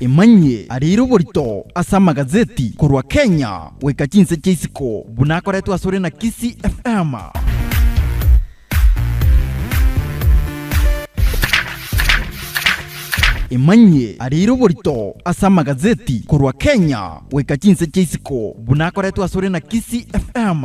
Emanyie arire oborito ase amagazeti korwa Kenya goika chinse chia isiko buna akoretwe asore na Kisii FM. Emanyie arire oborito ase amagazeti korwa Kenya goika chinse chia isiko buna akoretwe asore na Kisii FM.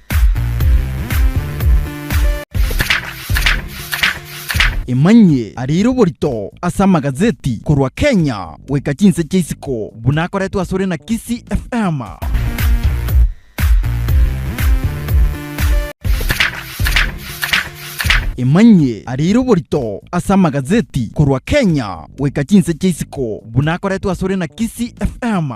Emanyie ariire oborito ase amagazeti korwa Kenya goika chinse chia isiko buna akoretwe asore na Kisii FM. Emanyie ariire oborito ase amagazeti korwa Kenya goika chinse chia isiko buna akoretwe asore na Kisii FM.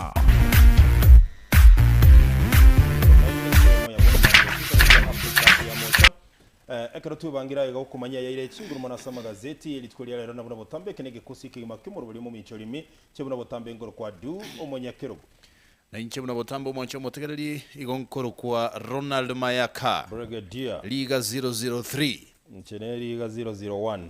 Ekero twebangire aiga okomanya ayaire chinguru mono ase amagazeti, rituko ria rero na buna botambe eke negekosi ekegima ki'omorweri omomincha orimi, inche buna botambe nkorokwa Du, omonyakerogo. Na inche buna botambe omonche omotegereri, igo nkorokwa Ronald Mayaka. Brigadier. Riga 003. Inche nere riga 001.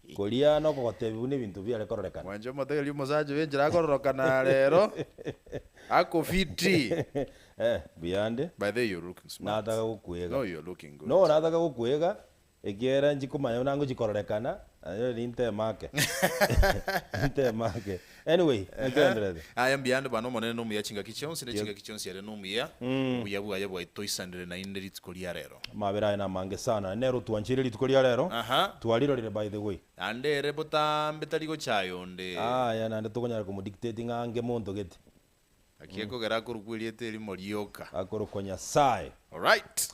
Koria noko gotebi buna ebinto biare kororekana. Mwanche omotegeria omosacha oyo enchera akororokana rero ako fiti. Eh, buya ande. By the way you're looking smart. Nataka gokwega. No you're looking good. No nataka gokwega ekiagera nchikomanya buna ngochi kororekana, naye eri ntemake. Ntemake. Anyway, naki Ehe. aenderere. Aya mbuya nde bana Omonene nomuya chingaki chionsi ne chingaki chionsi are nomuya. Obuya bwaye bwaito toisanire naende rituko ria rero. Amabera aye namange sana. Nero twancheire rituko ria rero. Aha. Twarirorire by the way. Naende ere botambe tari gochaya onde. Aya naende tokonyara komo dictate ng'a ange monto gete. Naki ekogera akorokwa erieta erimo rioka. Akorokwa Nyasaye. Alright.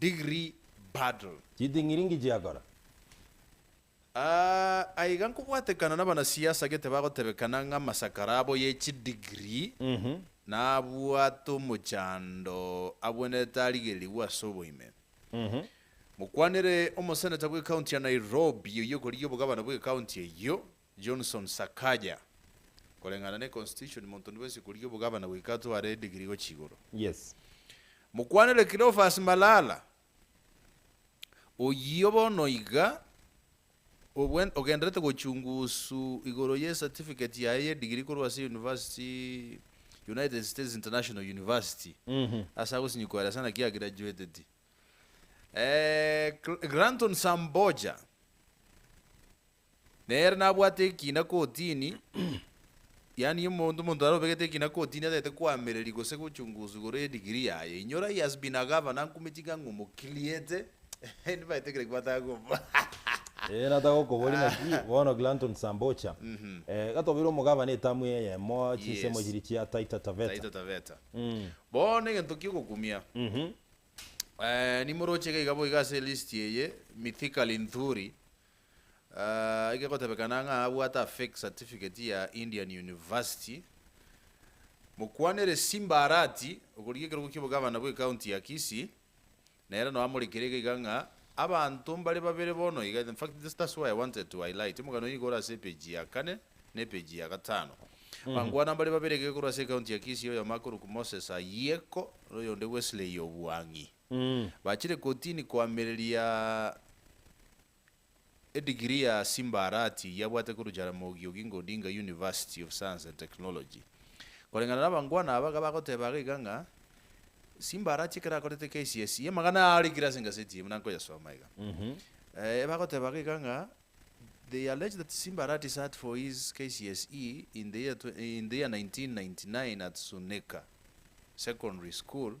Degree Battle. Chitng'iringi chiakora. Aa, aiga nkobwatekana nabanasiasa gete bagotebekana ng'a amasakara abo ye chidegree nabwate omochando abwenerete arigererigwe ase oboime. Mokwanere omoseneta bw'ecounty ya Nairobi oyio okorigia obogabana bw'ecounty eyio, Johnson Sakaja, Koreng'ana ne Constitution monto nibwensi korigia obogavana goika atware edigiri gochia igoro. Yes. Mokwanere Cleophas Malala, Oyio bono iga ogwen ogenderete gochungusu igoro ye certificate yaye y'edigiri korwa ase University United States International University ase agosinyikwa ere ase naki agraduateti. Eh, Granton Samboja. Nere nabwate ekina kotini, yaani omonto omonto are obegete ekina kotini atagete koamereri gose gochunguswa igoro ye degree yaye. Inyora he has been a governor nkumi ching'ang'u omokiliete endi baete kire kibataka komoa. Ee nataka gokoboria naki bono Glanton Sambocha eh gatobeire omogavana etamu eye eyemo chinsemo Yes. chiria chia Taita Taveta. Taita Taveta. Bono egento kiogokumia, eh nimoroche iga iga boigo ase elist eye, Mithika Linthuri, Aah egegotebekana ng'a abwate a fake certificate ya Indian University. Mokwanere Simba Arati okorigia ekerogo kia obogavana bwe county ya Kisii nere no amorekire iga iga ng'a abanto mbare babere bono iga in fact this that's why I wanted to highlight omogano oye nigo ore ase epage ya kane ne epage ya gatano bankwana mbare babere iga ekorwa ase ecounty ya Kisii oyomo akorokwa Moses Ayeko na oyonde Wesley Obwang'i. Bachire kotini koamereria edigiri ya Simbarati yabwate korwa Jaramogi Oginga Odinga University of Science and Technology. Koreng'ana nabangwana aba gabagoteba iga iga ng'a Simbarati ekero akorete KCSE amang'ana aya arikire ase engaseti eye buna nkoyasoma iga. Ebagoteba iga iga ng'a they allege that Simbarati sat for his KCSE in the year in the year 1999 at Sunika Secondary School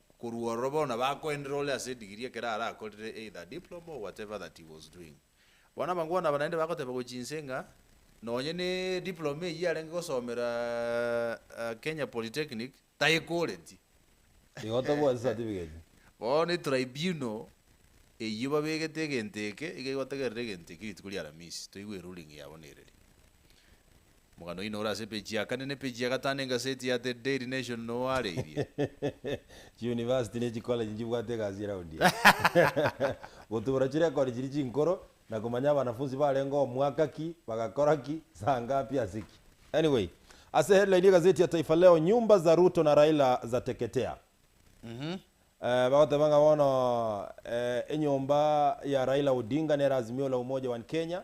Korwa ororo bono bakoendera ore ase edigiri ekero arakorire either diploma or whatever that he was doing. Bono abangwana aba naende bagoteba gochia inse ng'a nonye ne diploma eyio arenge gosomera Kenya Polytechnic tayekoreti. Igotebwa ase certificate. Bono etribunal eyio babegete egento eke iga egotegerera egento ekio rituko ria aramisi toigwe eruling yabo nereri. Omogano oino ore ase peji ya kane na epeji ya gatano engaseti ya The Daily Nation noareirie. Chiuniversity ne chikoleji nchibwate egasi ye round eye. Gotubura chirekodi chiria chinkoro na komanya abanafunsi barengeo mwaka ki, bagakora ki, saa ngapi, ase ki. Anyway, ase headline y'egaseti ya Taifa Leo, Nyumba za Ruto na Raila zateketea. Bagoteba ng'a bono enyomba ya Raila Odinga nere Azimio la Umoja One Kenya,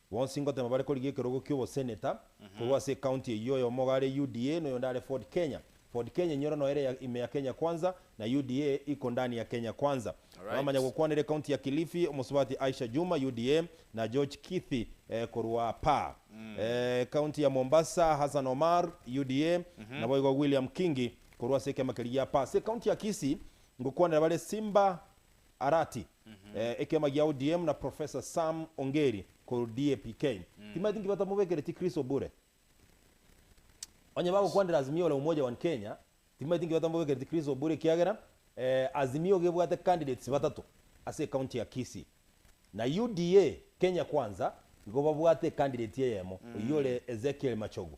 Bonsi ngotema bare korigia ekerogo ki'oboseneta korwa ase ecounty eyio, oyomo iga are UDA, na oyonde are Ford Kenya. Ford Kenya inyora noyo ere ya ime ya Kenya Kwanza, na UDA iko ndani ya Kenya Kwanza. Abamanya gokwanera ecounty ya Kilifi, omosubati Aisha Juma, UDA, na George Kithi, korwa apa. Ecounty ya Mombasa, Hassan Omar, UDA, naboigo William Kingi korwa ase ekeama keria gia apa. Ase ecounty ya Kisii, ngokwanera bare Simba Arati, Ekiama gia ODM na Professor Sam Ongeri korwa DAPK timaeti nki batamobekire chikriso obure? Onye bagokwanera Azimio la Umoja One Kenya timaeti nki batamobekire chikriso obure ekiagera Azimio iga ebwate candidates batato ase ecounty ya Kisii na UDA Kenya Kwanza igo babwate ecandidate eyemo oyio ore Ezekiel Machogu.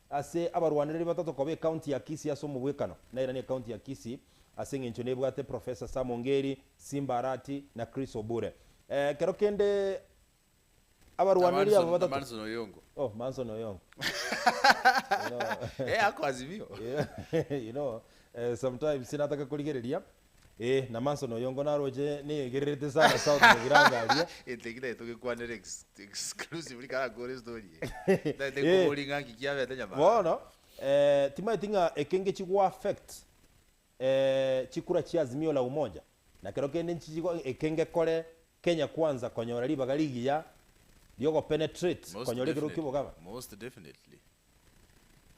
Ase abarwanereri batato koba ecounty ya Kisii ase omobwekano, nairane ecounty ya Kisii ase eng'encho nebwate Professor Sam Ongeri, Simba Arati na Chris Obure. Ekero kende abarwanereri aba Manson, batato. Manson Oyongo. Oh, Manson Oyongo. You know, Eh, ako Azimio. you know, eh, sometimes nataka korigereria Ee, na Manson oyongo naroche neyegererete sana south Nyabiranga aria. Gento eki naye togekwanere exclusively kare akore story eye. Tari tari Ee. koboria ng'a nki kiabete nyamara. Bono eh, timaeti ng'a eke ngechi go affect eh, chikura chia Azimio la Umoja nakero kende nchichigo eke ngekore Kenya Kwanza konyora ribaga rigiya riogopenetrate Most konyora ekero definitely. ki'obogaba. Most definitely.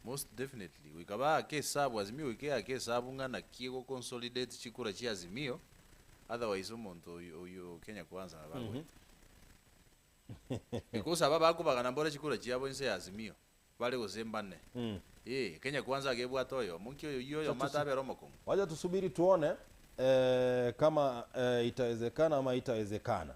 Most definitely goika baake esabu Azimio goika eake esabu ng'a naki egoconsolidate chikura chia Azimio otherwise omonto oyio oyio Kenya Kwanza nabo abwate because aba bakobagana mbore chikura chiabo inse ya Azimio bare gose mbane eeh Kenya Kwanza iga ebwate oyomo nki oyio oyomo Acha tusi- atabera omokong'u. Wacha tusubiri tuone eh, kama eh, itawezekana ama haitawezekana.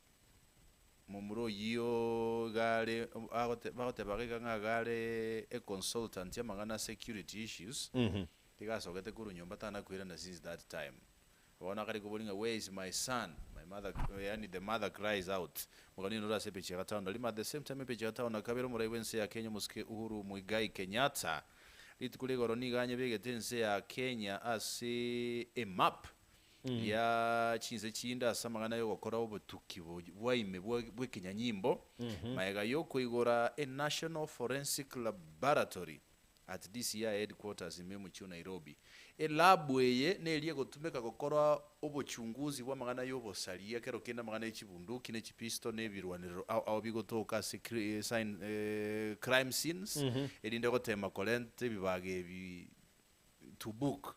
Momura oyio iga are agote bagotebaga iga ng'a iga are a consultant y'amang'ana a security issues, iga asogete korwa nyomba tanakoirana since that time. Bono akare koboria ng'a where is my son? My mother yaani the mother cries out, Mogani oino ore ase epeche ya gatano na rimo at the same time epeche ya gatano na kabere omorai bw'ense ya Kenya omosike Uhuru Muigai Kenyatta rituko rigoro nigo anyebegete ense ya Kenya ase a map. ria chinse chinde ase amang'ana y'ogokora obotuki bo- bwa ime bwa- bw'ekenyanyimbo, magega y'okoigora eNational Forensic Laboratory at DCI Headquarters ime omochie o Nairobi. Elabu eye neria egotumeka gokora obochunguzi bw'amang'ana y'obosaria kero kende amang'ana y'echibunduki na echipisto na ebirwanerero ao ao bigotoka ase cri- eh, sign- eh, crime scenes erinde goteema korenta ebibaga ebi to book.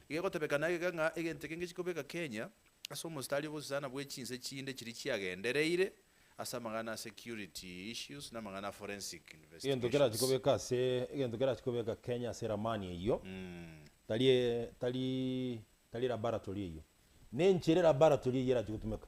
Igegotebeka na egeka ng'a egento eke ngechie kobeka Kenya ase omostari obosisana bwe chinse chinde chiria chiagendereire ase amang'ana a security issues na amang'ana a forensic Egento kerachie investigations. kobeka ase egento kerachie kobeka Kenya ase ramani eyio tari tari tari laboratory eyio. Nenchera laboratory eyio erachi gotumeka.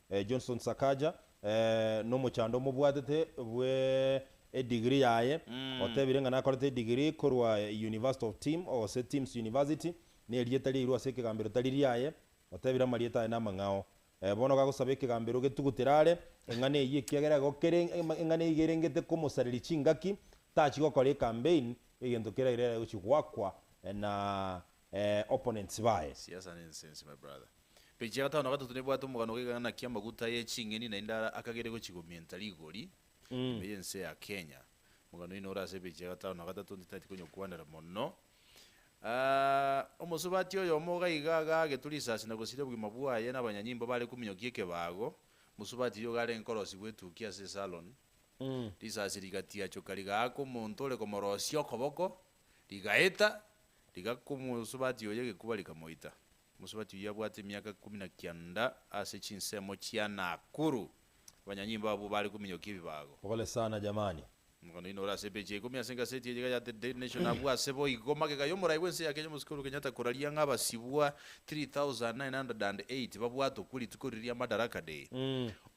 Johnson Sakaja, nomochando omobwatete bwe edigiri yaye, otebire ng'a nakorete edigiri korwa University of Tim, gose Tim's University, nerieta riairwe ase ekegambero tari riaye, otebire amarieta aye namang'ao. Bono gagosaba ekegambero getugutera are eng'ana eyio ekiagera igo kere eng'ana eyio iga erengete komosareria chingaki, tachia gokora ecampaign egento keraire aye gochia goakwa na opponents baye. Siasa nensense my brother. Page ya gatano na gatato nebwate omogano gaiga ng'a naki amaguta ye ching'eni naende ara akagere gochigomienta rigori ime y'ense ya Kenya. Mogano oino ore ase page ya gatano na gatato ntitati konyokwanera mono. Omosubati oyomo gaiga agaagete risasi na gosiria obogima bwaye n'abanyanyimbo bare kominyokia ekebago. Mosubati oyogo arenge korosigwa etukia ase esalon. Risasi rigatiachoka rigaaka omonto ore komorosia okoboko Rigaeta, rigaka omosubati oye egekuba rikamoita. Omosubati oyio abwate emiaka ikomi na kianda ase chinsemo chia Nakuru. Abanyanyimbo abwo bare kominyokia ebibago. Pole sana jamani. Omogano oino ore ase epeji ya ikomi ase egaseti eye iga ya The Daily Nation abwo ase boigo magega y'omorai bw'ense ya Kenya omosike Uhuru Kenyatta koraria ng'a abasibwa 3908 babwatokwe rituko riria ria Madaraka Day.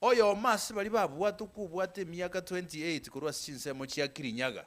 Oyomo ase baria babwatokwe obwate emiaka 28 korwa ase chinsemo chia Kirinyaga.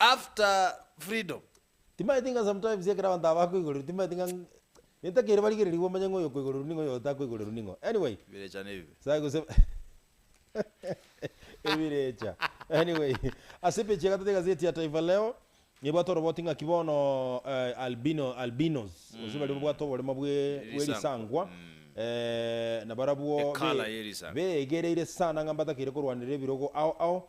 after freedom. Timanyeti ng'a sometimes ekero abanto aba bakoigorerwa timanyeti ng'a gento kere barigererigwe omanye ng'a oyo okoigorerwa ning'o oyo otakoigorerwa ning'o anyway Ebirecha nebibe. Sa gose ebirecha anyway ase epechi ya gatatũ ya gazeti ya Taifa Leo nebwate oroboti ng'aki bono eh, albino albinos gose baria babwate oboremo bwe bw'erisangwa Erisangwa, mm. eh, nabarabwo Ecolor be y'erisangwa. beegereire sana ng'a mbatakeire korwanera ebirogo ao ao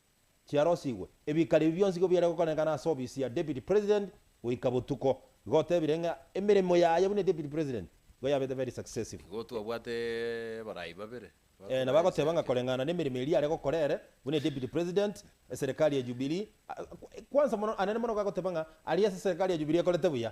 chiarosigwe, ebikare ebi bionsi igo biare gokorenekana ase obisi ya Deputy President goika botuko. Igo otebire ng'a emeremo yaye buna Deputy President nigo yabete very successive. Igo twabwate abarai babere Ee, na bagoteba ng'a bakoraiseke. koreng'ana nemeremo eria are gokora ere buna Deputy President, eserekari ya Jubilee, a, a, kwansa mono, anene mono igo agoteba ng'a aria ase eserekari ya Jubilee ekorete buya.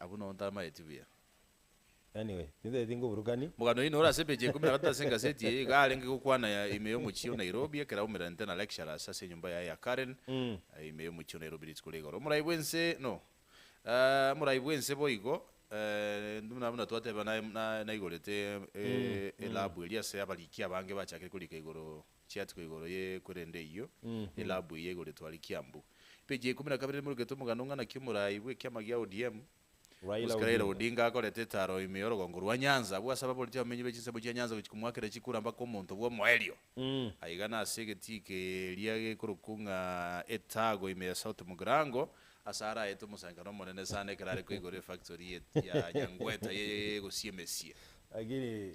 Abwo nao ntamanyeti buya. Anyway, nintaeti ngoburukani. Mogano oino ore ase epeji ya ikomi na gatato ase engaseti eye, iga arenge gokwana ya ime y'omochie o Nairobi, ekero aumererente na lecturers ase enyomba yaye ya Karen, ime y'omochie o Nairobi rituko ria igoro. Omorai bw'ense, no, eh, omorai bw'ense boigo, eh, buna buna twateba, na, na, naigorete e, e, elabu eria ase abariki abange bachakire korika igoro. chiatigwa igoro ye korende eyio elabu eye igoro etware kiambu. Page ya ikomi na kabere Nimurugete omogano ng'a naki omorai bw'ekiama gia ODM, Raila Mosike Raila Odinga. Odinga akorete etaro ime yorogongo rwa Nyanza abwo ase ababoreti abamenyi be chinsemo chia Nyanza gochia komoakera chikura mpaka omonto bw'omoerio. Aiga nase egetii keria gekorokwu ng'a Etago ime ya South Mugrango ase araete omosangererekano omonene sana ekero are koigora efactory ya Nyangweta ye gosiemesie. Lakini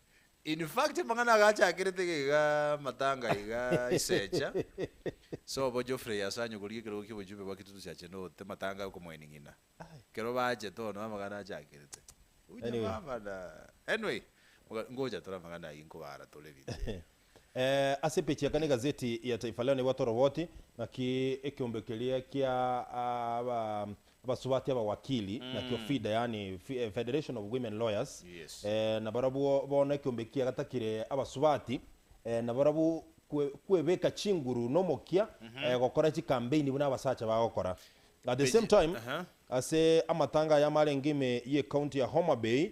In fact amang'ana aga achakerete iga iga matanga iga isecha sobo Geoffrey ase anyogorie ekerogo ki'obochumbe bwa Kitutu cha Chenote matanga okomoini ng'ina ekero bachete ono amang'ana achakerete Unyamama na anyway ngocha tore amang'ana ayio nkobaara tore rinde. Ase peji ya kane egazeti ya Taifa Leo nebwate oroboti ng'aki ekeombe keria kia abasubati abawakili nakio FIDA, yaani Federation of Women Lawyers, na barabwo bono ekeombe ekia gatakire abasubati na barabwo kwebeka chinguru nomokia gokora chikambeini buna abasacha bagokora. At the same time, ase amatanga aya amarenge ime ye county ya Homa Bay,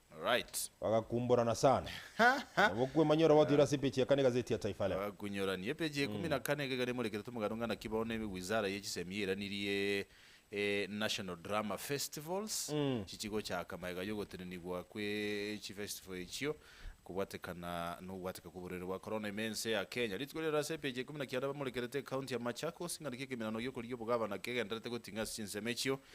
Alright. Bagakumborana sana. Nabo okwemanya ore ogotoira ase epeji ya kane egazeti ya Taifa Leo. Bakunyorani. Epeji ya ikomi na kane egekari emorekerete omogano ng'a naki bono ewizara ye chisemi yeranirie e National Drama Festivals chichi gochaka magega y'ogotenenigwa kwe chifestival echio kobwatekana nogobwateka kw'oborwaire bwa korona ime ense ya Kenya. Rituko riaroro ase epeji ya ikomi na kianda bamorekerete ecounty ya Machakos ng'a naki ekeminano gi'okorigia obogavana kegendererete goting'a ase chinsemo echio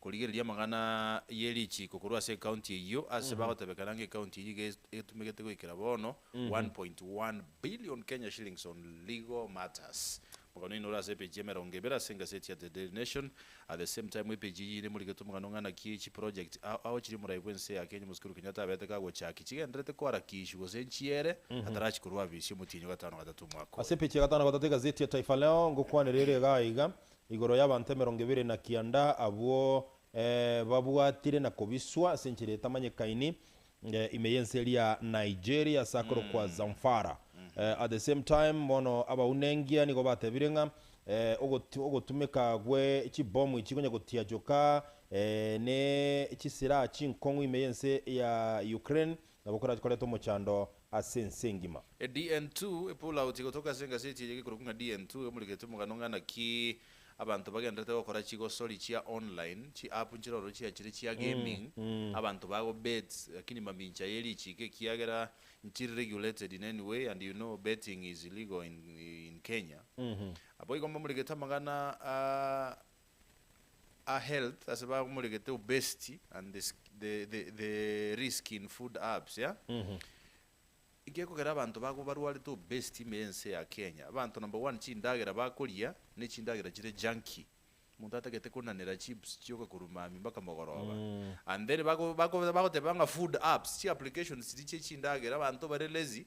korigereria amang'ana ye richiiko korwa ase ekaunti eyio ase bagotebekana ng'a ekaunti eyio iga etumegete goikera bono one point one billion Kenya shillings on legal matters. Omogano oino ore ase epeji ya emerongo ebere ase engaseti ya The Daily Nation. At the same time epeji eyio nemorigetie omogano ng'a naki echi project a ao chiri omorai bwa ense ya Kenya Moses Kuru Kenyatta abeete kagochaki chigendererete koharakishwa gose nchiere atarachi korwa afisi y'omotienyi o gatano gatato omwaka oyo. Ase epeji ya gatano gatato egaseti ya Taifa Leo ngokwanera ere egaa iga, Igoro y'abanto emerongo ebere na kianda, abwo babwatire na kobiswa ase enchera etamanyekaini ime y'ense eria Nigeria ase akorokwa Zamfara. At the same time, bono abaunengia nigo batebire ng'a ogotumeka gwe chibomu echi konya gotiachoka ne chisilaha chinkong'u ime y'ense ya Ukraine. Nabo korachie koreta omochando ase ense engima. EDN2, Epull out egotoka ase engaseti eye gekorokwa ng'a DN2 emoriketi omogano ng'a naki abanto bagendererete gokora chigosori chia online, chi-app nchire ororo chiachire chia gaming, abanto bago bet, lakini mamincha ye richiiko ekiagera nchiri regulated in any way and you know betting is illegal in Kenya. Naboigo mbamorigete amang'ana a. a health ase bamoregete obesity and the the the the risk in food herbs ya Gekogera abanto bago barwarete obesity ime yense ya Kenya abanto number one chindagera bakoria ne chindagera chire junky omonto atagete konanera chips chioka korwa mambi mpaka mogoroba and then bago bago bagoteba ng'a food herbs chi applications chiria chie chindagera abanto bare lazy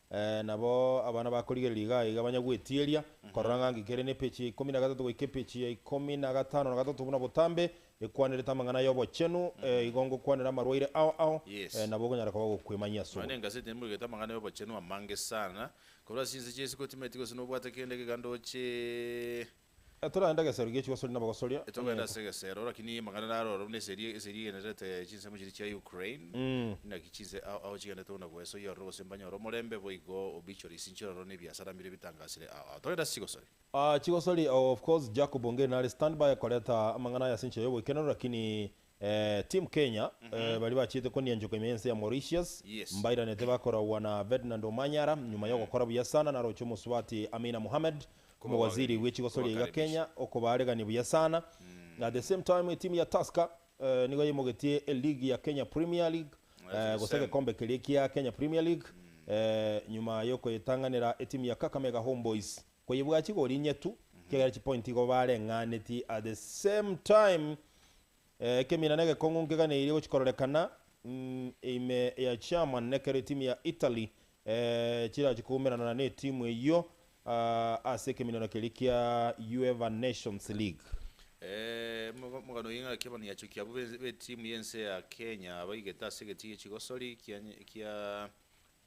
Ee, nabo abana bakorigereria iga aiga banya gwetieria, korora ng'a ngi kere nepechi ya ikomi na gatato goika epechi ya ikomi na gatano na gatato buna botambe, ekwanerete amang'ana y'obochenu, ee, igo ngokwanera amarwaire ao ao, ee, Yes. nabo okonyara koba ogokwemanyia ase Nonya oborimo. engaseti nimbugete amang'ana y'obochenu amange sana korwa ase chinse chia isi kotimeti gose nobwate kende gega ndoche. Etoragenda egesero gie chigosoria na abagosoria, Etogenda ase enyegete. egesero lakini amang'ana naro ororo buna eseri eseri egendererete chinsemo chiria chia Ukraine naki chinse ao ao chigendete buna goesa oyio ororo gose mbanyore omorembe boigo obituaries inche ororo na ebiasara mbire bitangasire ao ao togende ase chigosoria. Chigosoria of course Jacob Ongeri nare standby koreta amang'ana aya ase enchera y'oboikeranu lakini Team Kenya baria bachiete konianchoka ime y'ense ya Mauritius mbairanete bakoragwa na Ferdinand Omanyala nyuma y'ogokora buya sana naroche omosubati Amina Mohamed omowaziri bw'echigosoria iga Kenya okobaaregania buya sana. At the same time etimu ya Tusker nigo yaimogetie eligi ya Kenya Premier League gose egekombe keria kia Kenya Premier League nyuma y'okoyetang'anera etimu ya Kakamega Homeboyz. Koyebua chigori inye tu kiagera chipointi igo bareng'aneti at the same time ekemina negekong'u nkeganeirie gochi kororekana ime ya German nekero etimu ya Italy chirachi koumerana netimu eyio ase ekeminano keria kia UEFA Nations League. Omogano oye ng'aki abana yachokia abwo betimu yense ya Kenya abaigete ase egetigiri chigosori kia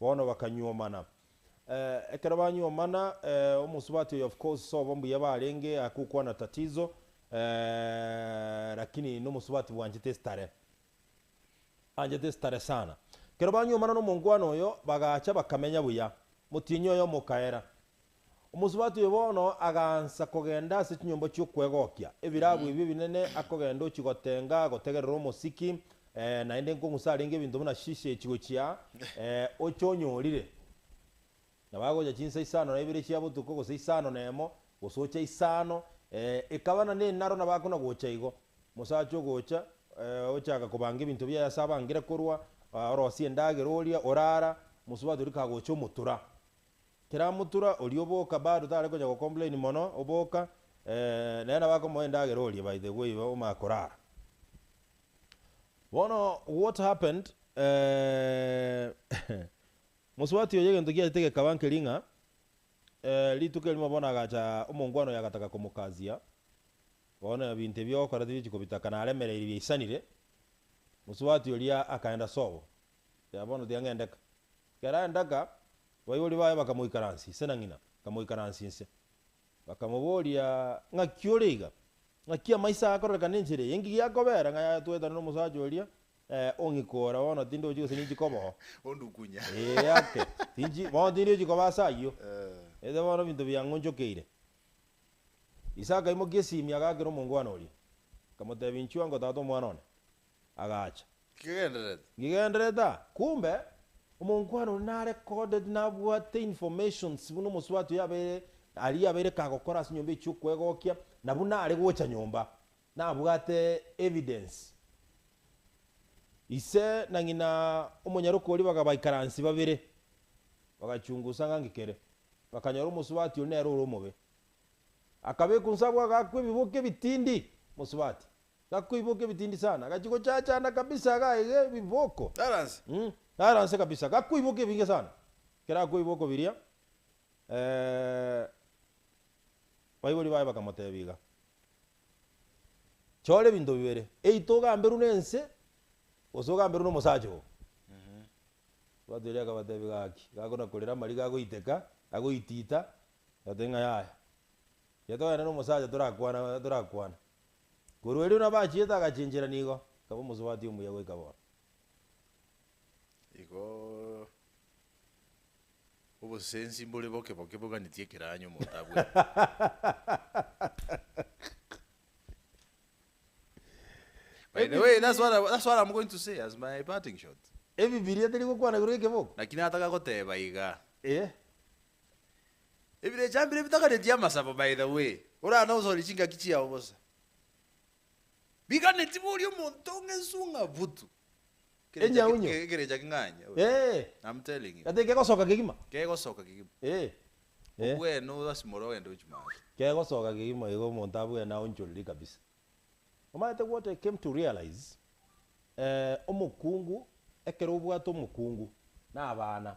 Bono bakanyuomana. Ekero banyuomana, omosubati oyo of course sobo mbuya barenge akokwana tatizo lakini nomosubati bwanchete estare. Anchete estare sana. Ekero banyuomana nomonkwana oyo bagacha bakamenya buya. Motienyi oyomo okaera. Omosubati oyo bono agaansa kogenda ase chinyomba chi'okwegokia ebirabu ebio ebinene, akogenda ochia gotenga, gotegerera omosiki, eh, naende nkong'usa arenge ebinto buna shishe chigochia, eh, oche onyorire. Nabo agocha chinsa isano na ibere chia botuko, gose isano na emo, gose ocha isano, eh, ekaba na nenaro nabo akona gocha igo. Omosacha ogocha, eh, ochaka kobanga ebinto biaye ase abangire korwa, ah, orosia endagera oria, orara, omosubati oria kagocha omotura. Tiramutura oria oboka bado tare gocha go complain mono oboka eeh nere nabo akomoa endagera oria by the way iba omanye korara bono what happened eeh mosubati oyo egento kiachete gekaba nkeri ng'a eeh rituko erimo bono agacha omongwana oyo agataka komokasia bono ebinto ebi ogokora tibichi kobitakana aremereirie biaisanire mosubati oria akaenda sobo Yaya bono tiga ng'endeka. Ekero aendeka, abaibori baye bakamoikaransia inse na ng'ina akamoikaransia inse. Bakamoboria, Ng'aki ore iga? Ng'aki amaiso aya akororekana enchera eye? Inki giakobera? Ng'a yaya twetane nomosacha oria, ee, ong'ikora bono tindi ochi gose ninchi koba oo. Ondukunye. Ee ake, tinchi, bono tindi ochi koba ase ayio. Ete bono ebinto biang'onchokeire. Isaka aimokia esimi agaakera omongwana oria, akamotebia, Inchuwa ngotata omwana one. agacha. Nkigenderete. Nkigenderete aa. Kumbe, omonkwana oria na recorded nabwate informations buna omosubati oyo abeire aria abeire kagokora ase nyomba echio kwegokia na buna are gocha nyomba nabwate evidence. Ise na ng'ina omonyaroke oria baga baikaransi babere bagachungusa ng'a nki kere. Bakanyora omosubati oria nere ore omobe. Akabekwa inse abwo agakwa ebiboke ebitindi, Mosubati. Gakoiboka ebitindi sana, gachia gochachana kabisa gaige ebiboko. Garanse. Mmh. Garanse kabisa, gakoiboka ebinge sana. Kerakoiba okobiria, eeh, baibori baye bakamotebia iga, Chora ebinto bibere, either ogamberwe nense, gose ogamberwe nomosacha oo. Ritwato erio akabatebia gaki, gakona korera amariga agoiteka, agoitita, agote ng'a yaya, tiga togenda nomosacha torakwana, torakwane. Korwa erio nabo achiete agachenchera nigo akaba omosubati omuya goika bono. Igo obosesensi mbore boke boke boganetie ekeranyo omonto abwate. By the way, that's what I, that's what I'm going to say as my parting shot. Ebibilia teri gokwana igoro y'ekeboko. Lakini atagakoteba iga. Eeh. Ebirecha mbire bitaganeti amasabo by the way, orana gosooria chingaki chiao bosa. Biganeti boria omonto ng'ensu ng'a butu. Ekerecha Enyaunyo. ke- ekerecha king'anya ore. Ee. I'm telling you. Gati kegosoka kegima. Kegosoka kegima. Ee. Ee. Obwene obasimore ogende ochimate. Kegosoka kegima igo omonto abwene aonchoriri kabisa. Omanyete what I came to realise? Eh, omokungu, ekero obwate omokungu, na abana.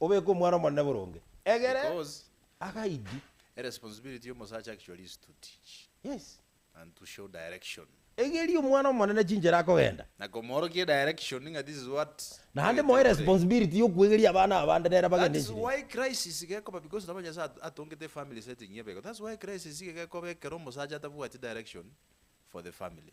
Obeke Omwana Omonene boronge egere Because agaidi. a responsibility y'omosacha actually is to teach Yes. and to show direction. Egeria Omwana Omonene chinchera akogenda. Na komoorokia edirection ng'a this is what Naende moe ogetire koree. responsibility y'okwegeria abana abande nere That abagende is enchera eye. why crisis gekoba because nabo Nyasaye at- atongete efamily setting y'ebeko. That's why crisis iga gekoba ekero omosacha atabwati direction for the family.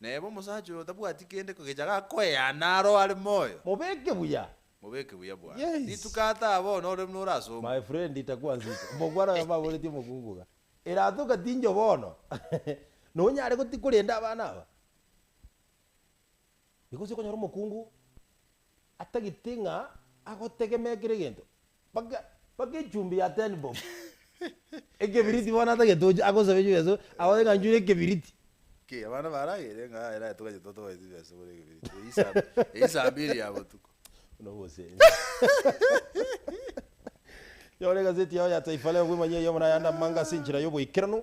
Na eba omosacha oyo tabwati kende kogecha gakoeana aro are moyo. Mobeke buya. Mobeke buya bwane. Yes. Rituko ataa bono ore buna orasongwe. My friend takwansinsa. Omogwaro oyo baboretie omokungu iga. Erato ogatinchwa bono. Nonyare goti korenda abana aba? Nigo ase okonyora omokungu atagete ng'a agotegemea kera egento, mpaka mpaka echumbi ya ten bob, ekebiriti bono atagete gochia agosabe echumbi ase abae ng'a nchore ekebiriti. Ki, abana baragere ng'a era toganye totoe chibesa bore ekebiriti, eyio saa eyio saa mbiri ya botuko. Buna obosense. Nyora egazeti yao ya Taifa Leo bwemanyie eyemo na ayande amang'ana ase enchera y'oboikeranu.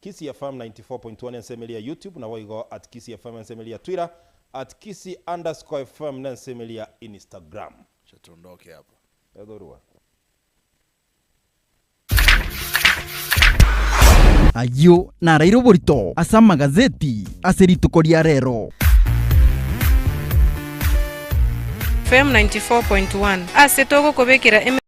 Kisii FM 94.1 ensemo eria YouTube naboigo at Kisii FM ensemo eria Twitter at Kisii underscore FM nensemo eria Instagram. Acha tondoke apa. Edhorua. Ayio naraire oborito ase amagazeti ase rituko ria rero. FM 94.1 Ase togokobekera eme.